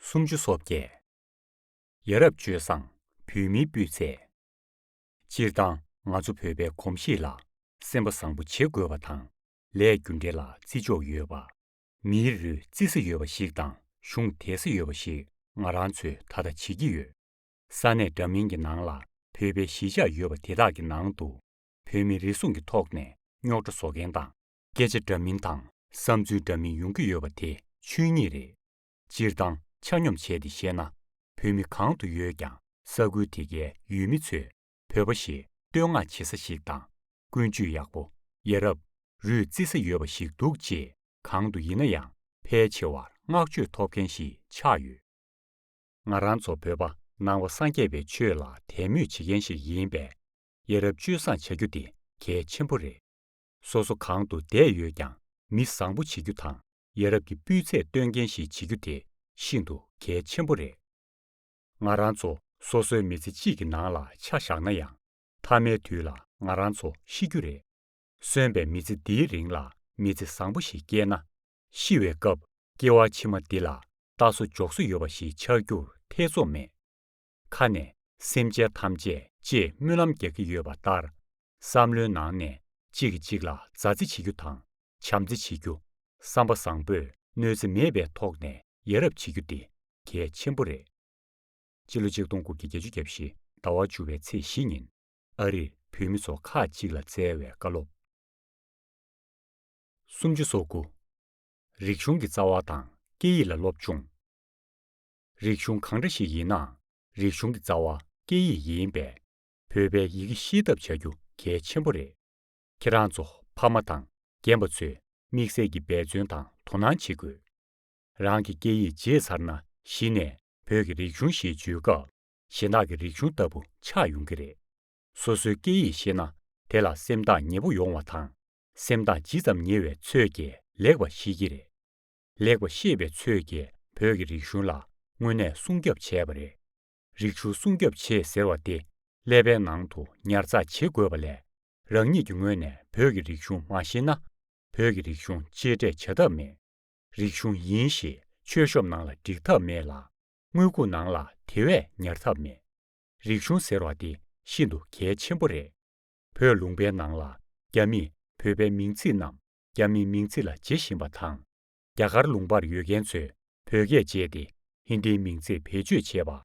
སུམ་ཅུ་སོ་བརྒྱད། ཡ་རབས་སྤྱོད་བཟང་བོད་མིའི་སྤུས་ཚད། སྤྱིར་བཏང་ང་ཚོ་བོད་པའི་གོམས་གཤིས་ལ་སེམས་པ་བཟང་པོ་བྱེད་དགོས་པ་དང་ལས་རྒྱུ་འབྲས་ལ་བརྩི་འཇོག་ཡོད་པ། མིའི་རུས་བརྩི་ས་ཡོད་པ་ཞིག་དང་གཞུང་དད་ས་ཡོད་པ་ཞིག་ང་རང་ཚོས་ད་ལྟ་བྱེད་ཀྱི་ཡོད། ས་གནས་འདྲ་མིན་གྱི་ནང་ལ་བོད་པའི་གཞིས་ཆགས་ཡོད་པ་དེ་དག་གི་ནང་དུ་བོད་མི་རེ་ཟུང་གི་ཐོག་ནས་རྙོག་དྲ་བཟོ་མཁན་དང། སྐད་ཆ་འདྲ་མིན་དང་བསམ་ཚུལ་འདྲ་མིན་ཡོང་གི་ཡོད་པ་དེ་ཆོས་ཉིད་རེད། སྤྱིར་བཏང་ཆ་སྙོམས་བྱས་ཏེ་བཤད་ན་བོད་མི་གང་དུ་ཡོད་ཀྱང་ས་ཁུལ་དེ་གའི་ཡུལ་མི་ཚོས་བོད་པ་ཞེས་བསྟོད་བསྔགས་བྱེད་ས་ཞིག་དང་ཀུན་སྤྱོད་ཡག་པོ། ཡ་རབས། རུས་བརྩི་ས་ཡོད་པ་ཞིག་འདུག་ཅེས་གང་དུ་ཡིན་ན་ཡང་ཕལ་ཆེ་བར་བསྔགས་བརྗོད་ཐོབ་མཁན་ཞིག་ཆགས་ཡོད། ང་རང་ཚོ་བོད་པ་ནང་བ་སངས་རྒྱས་པའི་ཆོས་ལ་དད་མོས་བྱེད་མཁན་ཞིག་ཡིན་པས། ཡ་རབས་སྤྱོད་བཟང་བྱ་རྒྱུ་དེ་གལ་ཆེན་པོ་རེད། སོ་སོ་གང་དུ་བསྡད་ཡོད་ཀྱང་མི་བཟང་པོ་བྱེད་རྒྱུ་དང་ཡ་རབས་ཀྱི་སྤུས་ཚད་སྟོན་མཁན་ཞིག་བྱེད་རྒྱུ་དེ་ཤིན་ཏུ་གལ་ཆེན་པོ་རེད། ང་རང་ཚོ་སོ་སོའི་མི་ཚེ་གཅིག་གི་ནང་ལ་ཆ་བཞག་ན་ཡང་མཐའ་མའི་དུས་ལ་ང་རང་ཚོ་ཤི་རྒྱུ་རེད། གསོན་པའི་མི་ཚེ་འདིའི་རིང་ལ་མི་ཚེ་བཟང་པོ་ཞིག་སྐྱེལ་ན་ཤི་བའི་སྐབས་སྐྱེ་བ་ཕྱི་མ་འདི་ལ་རྟགས་སུ་འཇོག་སྲོལ་ཡོད་པ་ཞིག་ཆགས་རྒྱུར་ཐེ་ཚོམ་མེད། ཁ་ནས་སེམས་ཅན་ཐམས་ཅད་ཅེས་སྨོན་ལམ་རྒྱག་གི་ཡོད་པ་ལྟར། བསམ་བློའི་ནང་ནས་གཅིག་གིས་གཅིག་ལ་མཛའ་བརྩེ་བྱེད་རྒྱུ་དང་བྱམས་བརྩེ་བྱེད་རྒྱུ། བསམ་པ་བཟང་པོས་གནོད་འཚེ་མེད་པའི་ཐོག་ནས་ཡ་རབས་བྱེད་རྒྱུ་དེ་གལ་ཆེན་པོ་རེད། སྤྱི་ལོ་ཆིག་སྟོང་དགུ་བརྒྱ་བརྒྱད་ཅུ་གྱ་བཞི་ཟླ་བ་བཅུ་བའི་ཚེས་བཞི་ཉིན་ཨ་རིར་བོད་མི་ཚོ་ཁག་གཅིག་ལ་བསྩལ་བའི་བཀའ་སློབ། སུམ་ཅུ་སོ་དགུ། རིག་གཞུང་གི་རྩ་བ་དང་སྐད་ཡིག་ལ་སློབ་སྦྱོང། རིག་གཞུང་གང་འདྲ་ཞིག་ཡིན་ནའང་རིག་གཞུང་གི་རྩ་བ་སྐད་ཡིག་ཡིན་པས། བོད་པའི་ཡི་གེ་ཤེས་ཐབས་བྱ་རྒྱུ་གལ་ཆེན་པོ་རེད། ཁྱེད་རང་ཚོ་ཕ་མ་དང་རྒན་པ་ཚོས་དམིགས་བསལ་གྱི་འབད་བརྩོན་དང་དོ་སྣང་བྱེད་དགོས། རང་གི་སྐད་ཡིག་བརྗེད་ཚར་ན་གཞི་ནས་བོད་ཀྱི་རིག་གཞུང་ཞེས་བརྗོད་སྐབས་གཞན་དག་གི་རིག་གཞུང་ལྟ་བུ་ཆགས་ཡོང་གི་རེད། སོ་སོའི་སྐད་ཡིག་ཤེས་ན་དེ་ལ་སེམས་ཐག་ཉེ་པོ་ཡོང་བ་དང་སེམས་ཐག་ཇི་ཙམ་ཉེ་བའི་ཚོས་ཀྱིས་ལེགས་པ་ཤེས་ཀྱི་རེད། ལེགས་པ་ཤེས་པའི་ཚོས་ཀྱིས་བོད་ཀྱི་རིག་གཞུང་ལ་དངོས་གནས་སྲུང་སྐྱོབ་བྱས་པ་རེད། རིག་གཞུང་སྲུང་སྐྱོབ་བྱེད་ཟེར་བ་དེ་ཀླད་པའི་ནང་དུ་ཉར་ཚགས་བྱེད་དགོས་པ་ལས། རང་ཉིད་ཀྱི་ངོས་ནས་བོད་ཀྱི་རིག་གཞུང་མ་ཤེས་ན། བོད་ཀྱི་རིག་གཞུང་གཅེས་སྤྲས་བྱ་ཐབས་མེད། རིག་གཞུང་ཡིན་ཞེས་ཆོས་ཤོབ་ནང་ལ་བསྒྲིག་ཐབས་མེད་ལ། དངུལ་ཁུག་ནང་ལ་དེ་བས་ཉར་ཐབས་མེད། རིག་གཞུང་ཟེར་བ་དེ་ཤིན་ཏུ་གལ་ཆེན་པོ་རེད། བོད་ལུང་པའི་ནང་ལ་རྒྱ་མིས་བོད་པའི་མིང་ཚིག་རྣམས་རྒྱ་མིའི་མིང་ཚིག་ལ་བརྗེ་བཞིན་པ་དང། རྒྱ་གར་ལུང་པར་ཡོད་མཁན་ཚོས་བོད་སྐད་སྤྱད་དེ་ཧིན་དིའི་མིང་ཚིག་བེད་སྤྱོད་བྱེད་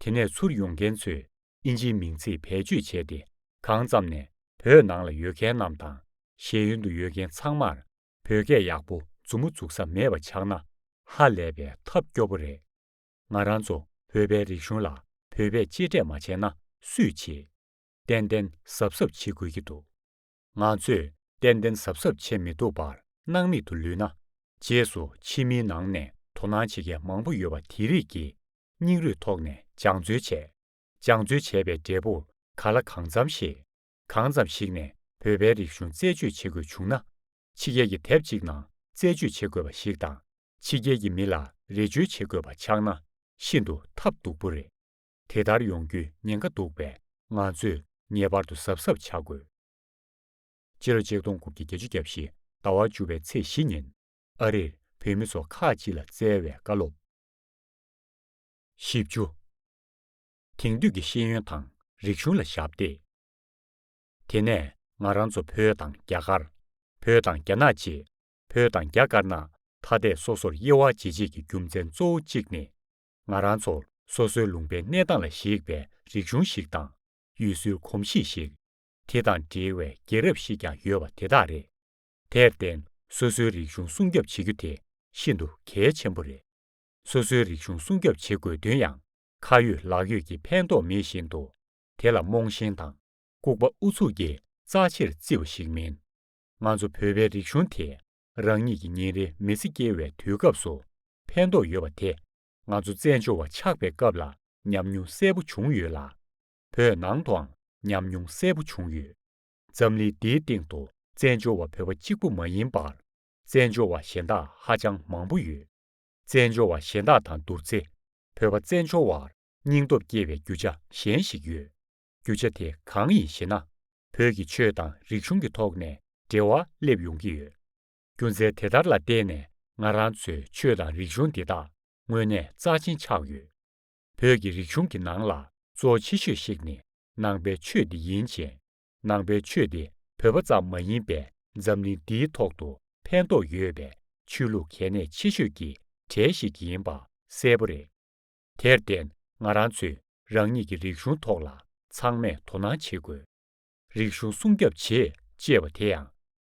པ། དེ་ནས་ཚུར་ཡོང་མཁན་ཚོས་དབྱིན་ཇིའི་མིང་ཚིག་བེད་སྤྱོད་བྱས་ཏེ་གང་ཙམ་ནས་བོད་ནང་ལ་ཡོད་མཁན་རྣམས་དང་ཤེས་ཡོན་དུ་ཡོད་མཁན་ཚང་མར་བོད་སྐད་ཡག་པོ་མཛུབ་མོ་འཛུགས་ས་མེད་པ་ཆགས་ན་ཧ་ལས་པའི་ཐབས་སྐྱོ་པོ་རེད། ང་རང་ཚོ་བོད་པའི་རིག་གཞུང་ལ་བོད་པས་གཅེས་སྤྲས་མ་བྱས་ན་སུས་བྱེད། གཏན་གཏན་ཟབ་ཟབ་བྱེད་དགོས་ཀྱི་འདུག་ང་ཚོས་གཏན་གཏན་ཟབ་ཟབ་བྱེད་མི་ཐུབ་པར་སྣང་མེད་དུ་ལུས་ན། རྗེས་སུ་ཕྱི་མིའི་ནང་ནས་དོ་སྣང་བྱེད་མཁན་མང་པོ་ཡོད་པ་དེ་རིགས་ཀྱིས་སྙིང་རུས་ཐོག་ནས་སྦྱང་བརྩོན་བྱས། སྦྱང་བརྩོན་བྱས་པའི་འབྲས་བུ་ག་ལ་གང་འཚམ་ཤེས། གང་ཙམ་ཞིག་ནས་བོད་པའི་རིག་གཞུང་རྩད་གཅོད་བྱེད་དགོས་བྱུང་ན། ཕྱི་རྒྱལ་གྱི་དེབ་ཅིག་ནང་རྩད་གཅོད་བྱེད་དགོས་པ་ཞིག་དང་ཕྱི་རྒྱལ་གྱི་མི་ལ་རེ་བཅོལ་བྱེད་དགོས་པ་ཆགས་ན་ཤིན་ཏུ་ཐབས་སྡུག་པོ་རེད། དེ་ལྟར་ཡོང་རྒྱུའི་ཉེན་ཁ་འདུག་པས་ང་ཚོས་ངེས་པར་དུ་གཟབ་གཟབ་བྱ་དགོས། སྤྱི་ལོ་ཆིག་སྟོང་དགུ་བརྒྱ་བརྒྱད་ཅུ་རྒྱབ་བཞི་ཟླ་བ་བཅུ་བའི་ཚེས་བཞི་ཉིན་ཨ་རིར་བོད་མི་ཚོ་ཁག་ཅིག་ལ་བསྩལ་བའི་བཀའ་སློབ། བཞི་བཅུ། དེང་དུས་ཀྱི་ཤེས་ཡོན་དང་རིག་གཞུང་ལ་ཞབས་འདེགས། དེ་ནས་ང་རང་ཚོ་བོད་དང་རྒྱ་གར། བོད་དང་རྒྱ་ནག་ཅེས་བོད་དང་རྒྱ་དཀར་ནག་ཐ་དད་སོ་སོར་དབྱེ་བ་འབྱེད་བྱེད་ཀྱི་རྒྱུ་མཚན་གཙོ་བོ་གཅིག་ནི་ང་རང་ཚོ་སོ་སོའི་ལུང་པའི་གནས་སྟངས་ལ་གཞིགས་པའི་རིག་གཞུང་ཞིག་དང་ཡུལ་སྲོལ་གོམས་གཤིས་ཤིག། དེ་དང་འབྲེལ་བའི་རྒྱལ་རབས་ཤིག་ཀྱང་ཡོད་པ་དེ་དག་རེད། དེར་བརྟེན་སོ་སོའི་རིག་གཞུང་སྲུང་སྐྱོབ་བྱེད་རྒྱུ་དེ་ཤིན་ཏུ་གལ་ཆེན་པོ་རེད། སོ་སོའི་རིག་གཞུང་སྲུང་སྐྱོབ་བྱེད་དགོས་དོན་ཡང་ཁ་ཡོད་ལག་ཡོད་ཀྱི་ཕན་ཐོགས་མེད་བཞིན་དུ་དེ་ལ་རྨོངས་ཞེན་དང་ལྐུགས་པ་ཨུ་ཚུགས་ཀྱིས་རྩ་ཆེར་བརྩི་བ་ཞིག་མིན། ང་ཚོ་བོད་པའི་རིག་གཞུང་དེ་རང་ཉིད་ཀྱི་ཉིན་རེའི་མི་ཚེ་སྐྱེལ་བའི་དུས་སྐབས་སུ་ཕན་ཐོགས་ཡོད་པ་དེ་ང་ཚོ་བཙན་བྱོལ་བ་ཆགས་པའི་སྐབས་ལ་ཉམས་མྱོང་གསལ་པོ་བྱུང་ཡོད་ལ། བོད་ནང་དུའང་ཉམས་མྱོང་གསལ་པོ་བྱུང་ཡོད། འཛམ་གླིང་འདིའི་སྟེང་དུ་བཙན་བྱོལ་བ་བོད་པ་གཅིག་པུ་མ་ཡིན་པར། བཙན་བྱོལ་བ་གཞན་དག་ཧ་ཅང་མང་པོ་ཡོད། བཙན་བྱོལ་བ་གཞན་དག་དང་བསྡུར་ཚེ་བོད་པ་བཙན་བྱོལ་བར་སྙིང་སྟོབས་སྐྱེ་བའི་རྒྱུ་ཆ་གཞན་ཞིག་ཡོད། རྒྱུ་ཆ་དེ་གང་ཡིན་ཞེ་ན། བོད་ཀྱི་ཆོས་དང་རིག་གཞུང་གི་ཐོག་ནས་འབྲེལ་བ་སླེབས་ཡོང་གི་ཡོད། རྒྱུ་མཚན་དེ་ལྟར་ལ་བརྟེན་ནས་ང་རང་ཚོའི་ཆོས་དང་རིག་གཞུང་འདི་དག་དངོས་གནས་རྩ་ཆེན་ཆགས་ཡོད། བོད་ཀྱི་རིག་གཞུང་གི་ནང་ལ་གཙོ་བོ་ཆེ་ཤོས་ཤིག་ནི་ནང་པའི་ཆོས་འདི་ཡིན་ཅིང། ནང་པའི་ཆོས་འདི་བོད་པ་ཙམ་མ་ཡིན་པའི་འཛམ་གླིང་འདིའི་ཐོག་ཏུ་ཕན་ཐོགས་ཡོད་པའི་ཆོས་ལུགས་གལ་གནད་ཆེ་ཤོས་ཀྱི་གྲས་ཤིག་ཡིན་པ་གསལ་པོ་རེད། དེར་བརྟེན་ང་རང་ཚོས་རང་ཉིད་ཀྱི་རིག་གཞུང་ཐོག་ལ་ཚང་མས་དོ་སྣང་བྱེད་དགོས། རིག་གཞུང་སྲུང་སྐྱབས་བྱེད་ཅེས་པ་དེ་ཡང་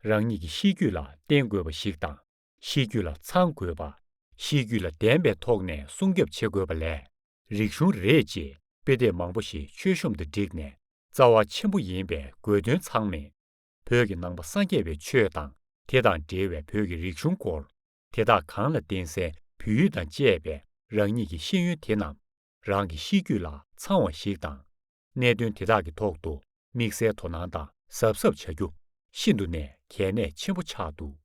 རང་ཉིད་ཀྱི་གཤིས་རྒྱུད་ལ་བརྟེན་དགོས་པ་ཞིག་དང་གཤིས་རྒྱུད་ལ་ཚང་དགོས་པ། གཤིས་རྒྱུད་ལ་ལྡན་པའི་ཐོག་ནས་སྲུང་སྐྱབས་བྱེད་དགོས་པ་ལས་རིག་གཞུང་རེད་ཅེས་དཔེ་དེབ་མང་པོ་ཞིག་མཆོད་གཤོམ་དུ་བསྒྲིགས་ནས་རྩ་བ་ཆེན་པོ་ཡིན་པའི་དགོས་དོན་ཚང་མེད། བོད་ཀྱི་ནང་པ་སངས་རྒྱས་པའི་ཆོས་དང་དེ་དང་འབྲེལ་བའི་བོད་ཀྱི་རིག་གཞུང་སྐོར་དེ་དག་གང་ལ་བརྟེན་སའི་བོད་ཡུལ་དང་བཅས་པའི་རང་ཉིད་ཀྱི་ཤེས་ཡོན་དེ་རྣམས་རང་གི་གཤིས་རྒྱུད་ལ་ཚང་བ་ཞིག་དང། གནད་དོན་དེ་དག་གི་ཐོག་ཏུ་དམིགས་བསལ་དོ་སྣང་དང་གཟབ་གཟབ་བྱ་རྒྱུ་ཤིན་ཏུ་ནས་གལ་གནད་ཆེན་པོ་ཆགས་འདུག་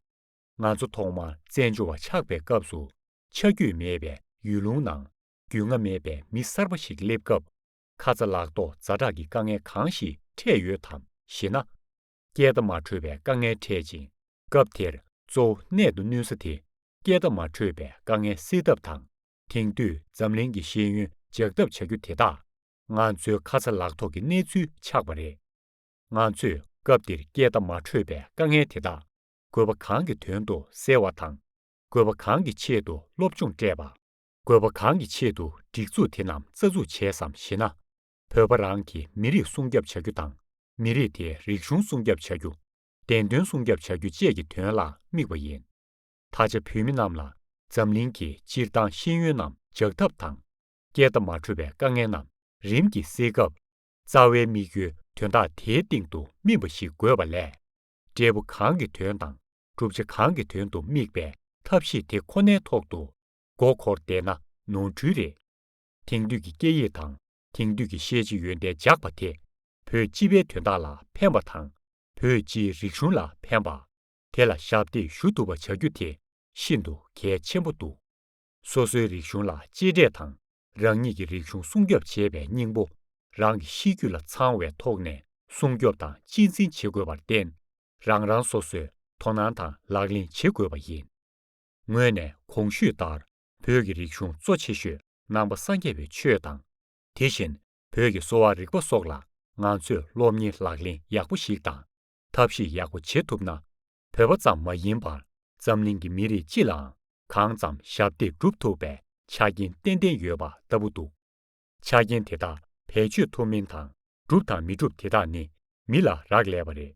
ང་ཚོ་ཐོག་མར་བཙན་བྱོལ་བ་ཆགས་པའི་སྐབས་སུ་ཆ་རྒྱུས་མེད་པའི་ཡུལ་ལུང་ནང་རྒྱུས་མངའ་མེད་པའི་མི་གསར་པ་ཞིག་སླེབས་སྐབས་ཁ་ཚ་ལག་ཐོག་རྫ་དྲག་གི་དཀའ་ངལ་གང་ཞིག་འཕྲད་ཡོད་དམ་ཞེ་ན། སྐད་བརྡ་མ་འཕྲོད་པའི་དཀའ་ངལ་འཕྲད་ཅིང། སྐབས་དེར་གཙོ་བོ་གནད་དུ་བསྣུན་ས་དེ་སྐད་བརྡ་མ་འཕྲོད་པའི་དཀའ་ངལ་སེལ་ཐབས་དང་དེང་དུས་འཛམ་གླིང་གི་ཤེས་ཡོན་འཇགས་ཐབས་བྱ་རྒྱུ་དེ་དག་ང་ཚོའི་ཁ་ཚ་ལག་ཐོག་གི་གནས་ཚུལ་ཆགས་པ་རེད། ང་ཚོས་སྐབས་དེར་སྐད་བརྡ་མ་འཕྲོད་པའི་དཀའ་ངལ་དེ་དག་དགོས་པ་གང་གི་དོན་དུ་སེལ་བ་དང། དགོས་པ་གང་གི་ཆེད་དུ་སློབ་སྦྱོང་སྤྲད་པ། དགོས་པ་གང་གི་ཆེད་དུ་སྒྲིག་འཛུགས་དེ་རྣམས་རྩ་འཛུགས་བྱས་སམ་ཞེ་ན། བོད་པ་རང་གི་མི་རིགས་སྲུང་སྐྱབས་བྱ་རྒྱུ་དང་མི་རིགས་དེ་རིག་གཞུང་སྲུང་སྐྱབས་བྱ་རྒྱུ། བདེན་དོན་སྲུང་སྐྱབས་བྱ་རྒྱུ་བཅས་ཀྱི་དོན་ལ་དམིགས་པ་ཡིན། ད་ཆ་བོད་མི་རྣམས་ལ་འཛམ་གླིང་གི་སྤྱིར་བཏང་ཤེས་ཡོན་རྣམས་འཇགས་ཐབས་དང། སྐད་བརྡ་མ་འཕྲོད་པའི་དཀའ་ངལ་རྣམས་རིམ་གྱིས་སེལ་སྐབས། རྩ་བའི་དམིགས་ཡུལ་དོན་དག་དེའི་སྟེང་དུ་སྨིན་པ་ཞིག་དགོས་པ་ལས། འབྲས་བུ་གང་གི་དོན་དང་གྲུབ་ཆ་གང་གི་དོན་དུ་དམིགས་པའི་ཐབས་ཤེས་དེ་ཁོ་ནའི་ཐོག་ཏུ་མགོ་འཁོར་བསྡད་ན་ནོར་འཁྲུལ་རེད། དེང་དུས་ཀྱི་སྐད་ཡིག་དང་དེང་དུས་ཀྱི་ཤེས་བྱའི་ཡོན་ཏན་འཇགས་པ་དེ། བོད་སྤྱི་པའི་དོན་དག་ལ་ཕན་པ་དང་བོད་སྤྱིའི་རིག་གཞུང་ལ་ཕན་པ། དེ་ལ་ཞབས་འདེགས་ཞུ་ཐུབ་པ་བྱ་རྒྱུ་དེ་ཤིན་ཏུ་གལ་ཆེན་པོ་འདུག་སོ་སོའི་རིག་གཞུང་ལ་གཅེས་སྤྲས་དང་རང་ཉིད་ཀྱི་རིག་གཞུང་སྲུང་སྐྱོབ་བྱེད་པའི་སྙིང་པོ་རང་གི་གཤིས་རྒྱུད་ལ་ཚང་བའི་ཐོག་ནས་སྲུང་སྐྱོབ་དང་གཅེས་འཛིན་བྱེད་དགོས་པར་བརྟེན་རང་རང་སོ་སོས་དོ་སྣང་དང་ལག་ལེན་བྱེད་དགོས་པ་ཡིན། ངོས་ནས་གོང་ཞུས་ལྟར། བོད་ཀྱི་རིག་གཞུང་གཙོ་ཆེ་ཤོས་ནང་པ་སངས་རྒྱས་པའི་ཆོས་དང། དེ་བཞིན་བོད་ཀྱི་གསོ་བ་རིག་པ་སོགས་ལ་ང་ཚོས་སློབ་གཉེར་ལག་ལེན་ཡག་པོ་ཞིག་དང་ཐབས་ཤེས་ཡག་པོ་བྱེད་ཐུབ་ན། བོད་པ་ཙམ་མ་ཡིན་པར་འཛམ་གླིང་གི་མི་རིགས་སྤྱི་ལའང་གང་ཙམ་ཞབས་འདེགས་བསྒྲུབ་ཐུབ་པའི་ཆ་རྐྱེན་ཏན་ཏན་ཡོད་པ་ལྟ་བུ་འདུག་ཆ་རྐྱེན་དེ་དག་བེད་སྤྱོད་ཐུབ་མིན་དང་གྲུབ་དང་མི་གྲུབ་དེ་དག་ནི་མི་ལ་རག་ལས་པ་རེད།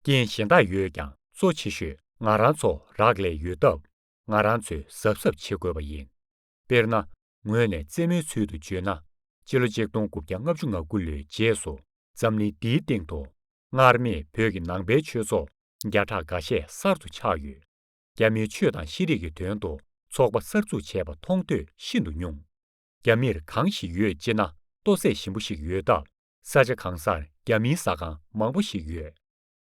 རྐྱེན་གཞན་དག་ཡོད་ཀྱང་གཙོ་ཆེ་ཤོས་ང་རང་ཚོ་རག་ལས་ཡོད་སྟབས། ང་རང་ཚོས་གཟབ་གཟབ་བྱེད་དགོས་པ་ཡིན། དཔེར་ན། ངོས་ནས་རྩེད་མོའི་ཚུལ་དུ་བརྗོད་ན། སྤྱི་ལོ་ཆིག་སྟོང་དགུ་བརྒྱ་ལྔ་བཅུ་ང་དགུ་ལོའི་རྗེས་སུ་འཛམ་གླིང་འདིའི་སྟེང་དུ། སྔར་མེད་བོད་ཀྱི་ནང་པའི་ཆོས་ཚོགས་བརྒྱ་ཕྲག་འགའ་ཤས་གསར་དུ་ཆགས་ཡོད། རྒྱ་མིའི་ཆོས་དང་ཤེས་རིག་གི་དོན་དུ་ཚོགས་པ་གསར་འཛུགས་བྱས་པ་མཐོང་ཐོས་ཤིན་ཏུ་ཉུང། རྒྱ་མིར་གང་ཞིག་ཡོད་ཅེ་ན་ལྟོ་ཟས་ཞིམ་པོ་ཞིག་ཡོད་སྟབས་ས་ཆ་གང་སར་རྒྱ་མིའི་ཟ་ཁང་མང་པོ་ཞིག་ཡོད།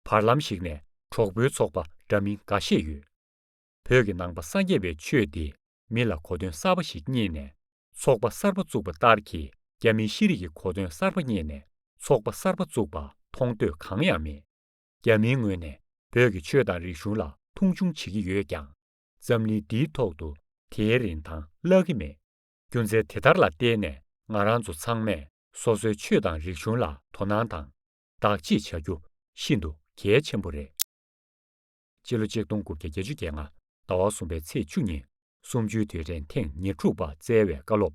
བར་ལམ་ཞིག་ནས་གྲོགས་པོའི་ཚོགས་པ་འདྲ་མིན་འགའ་ཤས་ཡོད། བོད་ཀྱི་ནང་པ་སངས་རྒྱས་པའི་ཆོས་འདི་མི་ལ་གོ་དོན་གསར་པ་ཞིག་རྙེད་ནས་ཚོགས་པ་གསར་པ་བཙུགས་པ་ལྟར་གྱི་རྒྱ་མིའི་ཤེས་རིག་གི་གོ་དོན་གསར་པ་རྙེད་ནས་ཚོགས་པ་གསར་པ་བཙུགས་པ་མཐོང་ཐོས་གང་ཡང་མེད། རྒྱ་མིའི་ངོས་ནས་བོད་ཀྱི་ཆོས་དང་རིག་གཞུང་ལ་མཐོང་ཆུང་བྱེད་ཀྱི་ཡོད་ཀྱང། འཛམ་གླིང་འདིའི་ཐོག་ཏུ་དེའི་རིན་ཐང་བརླག་གི་མེད། རྒྱུ་མཚན་དེ་ལྟར་ལ་བརྟེན་ནས་ང་རང་ཚོ་ཚང་མས་སོ་སོའི་ཆོས་དང་རིག་གཞུང་ལ་དོ་སྣང་དང། བདག་གཅེས་བྱ་རྒྱུ་ཤིན་ཏུ་གལ་ཆེན་པོ་རེད། སྤྱི་ལོ་གཅིག་སྟོང་དགུ་བརྒྱ་བརྒྱད་ཅུ་བརྒྱད་ལྔ་ཟླ་བ་གསུམ་པའི་ཚེས་བཅུ་ཉིན་གསུམ་བཅུའི་དུས་དྲན་ཐེངས་ཉེར་དྲུག་པ་སྩལ་བའི་བཀའ་སློབ།